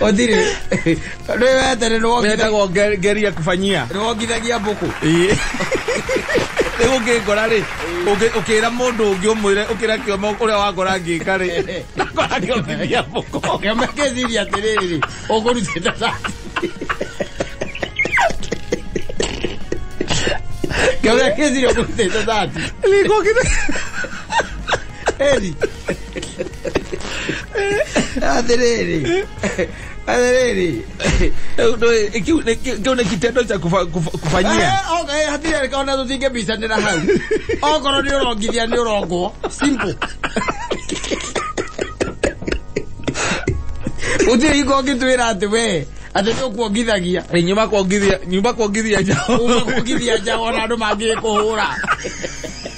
Otire. Rĩwe atarĩ rwongithagia wetagwo nge- ngeria kũbanyia rwongithagia mbũkũ. rĩu ũngĩngora rĩ ũngĩ- ũkĩra mũndũ ũngĩ ũmwĩre ũkĩra kĩoma ũrĩa wangora ngĩka rĩ nakora ngĩongithia mũko Kĩama kĩciria atĩrĩrĩ, ũkũrutĩte ta. Kĩama kĩciria ũkũrutĩte ta. Nĩngũkire- Eli. Athiriri. Athiriri. Kiu nä kitendo cha kufa- kufa- kufanyia Eh, okay, hatirĩ kaona tũtinge mbicanĩra hau okorwo nĩ ũrongithia nĩ ũrongwo simple gũtirĩ hingo ũngĩtwĩra atĩ we atĩ nĩ ũkuongithagia Eh, nyuma kuongithia nyuma kuongithia njao ũmekuongithia nja ona andũ mangĩkũhũra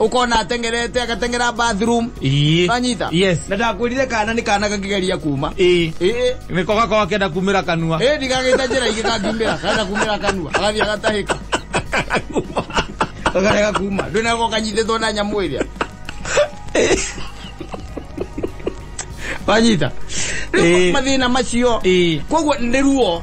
ukona atengerete agatengera bathroom Ii. Wanyita? Yes. na ndakwirire kana ni kana kakigeria kuma Ii. Eh, Nä ko gakorwo akenda kumä ra kanua eh, ndigagita njira ingä kangiumira kana kumira kanua agathia gatahika kakarega kuma ndwinagwo kanyititwo na nyamu iria wanyita Rĩu Ĩĩ. mathĩna macio Ĩĩ. koguo nĩ ruo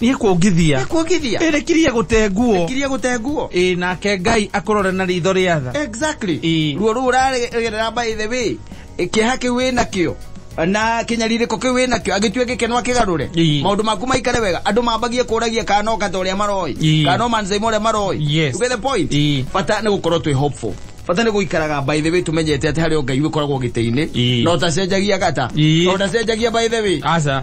Gĩkuongithia. Gĩkuongithia. Ĩ rĩkirie gũte nguo. Rĩkirie gũte nguo. Ĩ nake Ngai akũrore na ritho rĩa tha. Exactly. Ĩ. Ruo rũu ũragerera by the way, kĩeha kĩu wĩ nakĩo na kinyaririko kiu wina kio agitue gikeno akigarure maundu maku maikare wega andu mambagie kuragia kana no kata uria maroi kana no manzai uria maroi yes. you get the point bata ni gukorwo twi hopeful bata nä gå ikaraga by the way tå menyete atä harä o ngai wä koragwo gä tä-inä no tacenjagia gata no tacenjagia by the way aca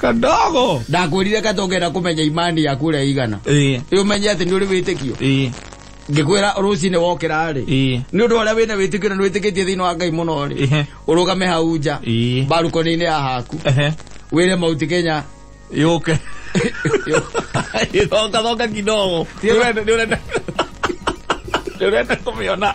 kadogo ndakwirire katongera kumenya imani yaku uria igana eh umenye ati ni uri witikio eh ngikwira rucine wokira ri eh ni undu uria wina witikio na nwitikitie thiini wa ngai muno ri Ehe. urugame hau nja Eh. mbarukoni-inĩ ya haku eh wire mauti kenya yoke thoka thoka kidogo Nĩ ũrenda- nĩ ũrenda- nĩ ũrenda kũmĩona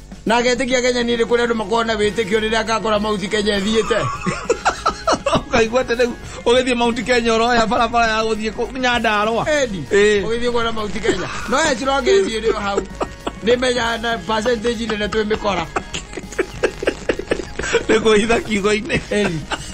na agetĩkia kenya nĩ kũrĩa andũ makorwo na wĩtĩkio rĩrĩa akakora mauti kenya ĩthiĩte ukaigua atĩ rĩu ũgĩthiĩ mount kenya ũroya barabara ya gũthiĩ kũ- nyandarũa endi Ĩĩ. ũgĩthiĩ kuona mauti kenya no yacira ũngĩthiĩ rĩo hau nĩ menya na percentage nene twĩ mĩkora nĩ kwĩhitha kiugo-inĩ endi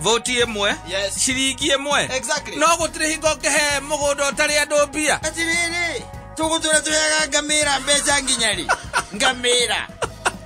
voti ĩmwe Yes. ciringi ĩmwe Exactly. no gũtirĩ hingo ngĩhe mũgũnda ũtarĩ andũ mbia atiriri tugutura tuyaga ngamira mbeca nginya ri ngamira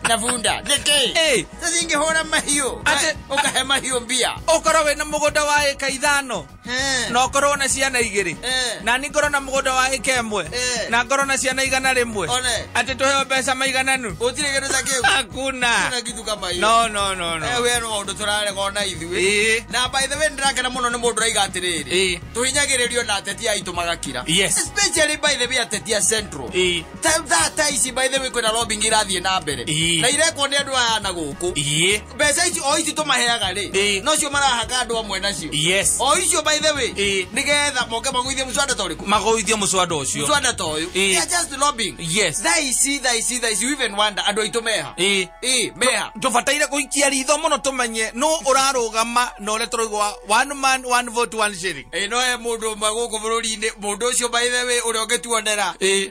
na bunda niki Ĩĩ. tacingihura mahiu Atĩ- ukahe mahiu mbia ũkorwo wĩna mũgũnda wa ĩka ithano Eh. na ngorwo na ciana igä rä Eh. na ni ngorwo na må gå nda wa ä ka ä mwe Eh. na ngorwo na ciana igana rä mwe One. atä tå heo mbeca maigananu Gũtirĩ kĩndũ ta kĩu. hakuna Hakuna kitu kama hiyo. no no no Eh, no we no maũndũ tũrarega ona ithuĩ Ĩĩ. na by the way nĩndĩrakena mũno nĩ mũndũ raiga atĩrĩrĩ Ĩĩ. tũhinyagĩrĩrio na ateti aitũ magakira Yes. especially by the way ateti a central Ĩĩ. Ta- ta- ta ici by the way kwĩna lobbying irathiĩ na mbere Ĩĩ. na irekwo nĩ andũ aya na gũkũ iä mbeca icio o icio tũmaheaga rĩ Ĩ. nocio marahaka andũ amwe nacio yes o icio by the way Ĩ. nĩgetha moke magũithie mũcwanda ta ũrĩkũ magoithie mũcwanda ũcio mũcwanda ta ũyũ Ĩ. They are just lobbying yes thaa ici thaa ici thaa ici you even wonder andũ aitũ meha ĩ ĩ meha tũbataire gũikia ritho mũno tũmenye nũ ũrarũgama na ũrĩa tũroiga wa one man one vote one shilling ĩ no he mũndũ ũmwe gũkũ bũrũri-inĩ mũndũ ũcio by the way ũrĩa ũngĩtuonera ĩ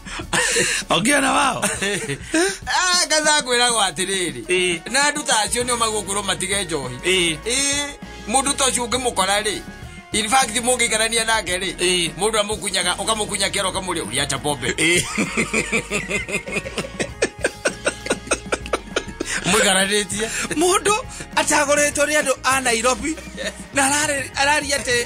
Okiona wao. Ah, kadhaa kwĩragwo atĩrĩrĩ Ĩĩ. na andũ ta acio nĩo magũkorwo matige njohi Ĩĩ. Ĩĩ, mũndũ ta ũcio ũngĩmũkora rĩ in fact mũngĩikarania nake rĩ Ĩĩ. mũndũ amũkunyaga ũkamũkunya kĩara ũkamũrĩa ũria acha pombe Ĩĩ. mwĩkaranĩtie Mũndũ atagoretwo nĩ andũ a Nairobi na ararĩ- araria atĩ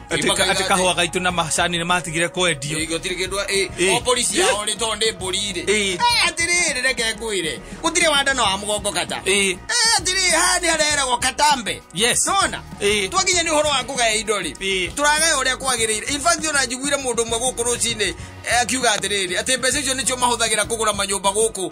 Atĩ ka- atĩ kahũa gaitũ na macani nĩ matigire kwendio gũtirĩ kĩndũ ĩ, Ĩ. o polisi yao nĩ tondũ nĩ mbũri rĩ Ĩ. Eh, atĩrĩrĩ reke ngwĩre gũtirĩ wandana wa mũgongo kata Ĩ. Eh, atĩrĩrĩ haha nĩ hareragwo katambe Yes. nona Ĩ. twakinya nĩ ũhoro wa kũgaya indo rĩ Ĩ. tũragaya ũrĩa kwagĩrĩire In fact ona njiguire mũndũ ũmwe gũkũ rũcinĩ eh, akiuga atĩrĩrĩ atĩ mbeca icio nĩcio mahũthagĩra kũgũra manyũmba gũkũ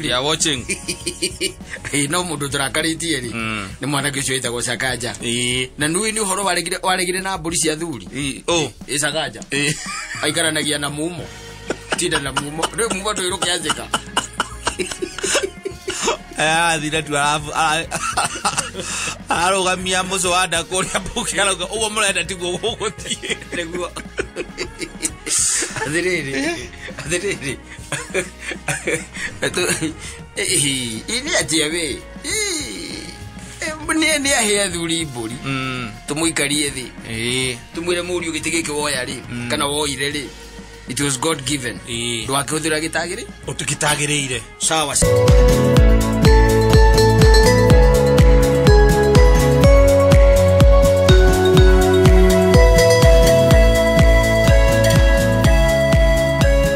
They are watching. Ĩĩ, no mũndũ tũrakarĩtie rĩ Mm. nĩ mwanake ũcio wĩtagwo cakanja Ĩĩ. na nui nĩ ũhoro waregire- waregire na mbũri cia thuri Ĩĩ. Oh. ĩ cakanja Ĩĩ. aikaranagia na mumo tinda na mumo rä mumo ndå ä rå kä anjä ka athire tu arabu- ara- ararũgamia mũcũ wa nda kũrĩa mbũki arauga ũguo mũrenda tiguo gũgũthiĩ nä guo athä rä rä athä rä rä Atu, ĩĩ, ĩĩ, nĩ atia wĩ nĩ ahĩa thuri mbũri Mm, tũmũikarie thĩ ĩĩ, tumwire mũriũ gĩtĩ gĩkĩ woya rĩ Mm. kana woire rĩ it was god given Ĩĩ. ndwakĩhũthĩra gĩtagĩ rĩ ũtukitagĩrĩire sawa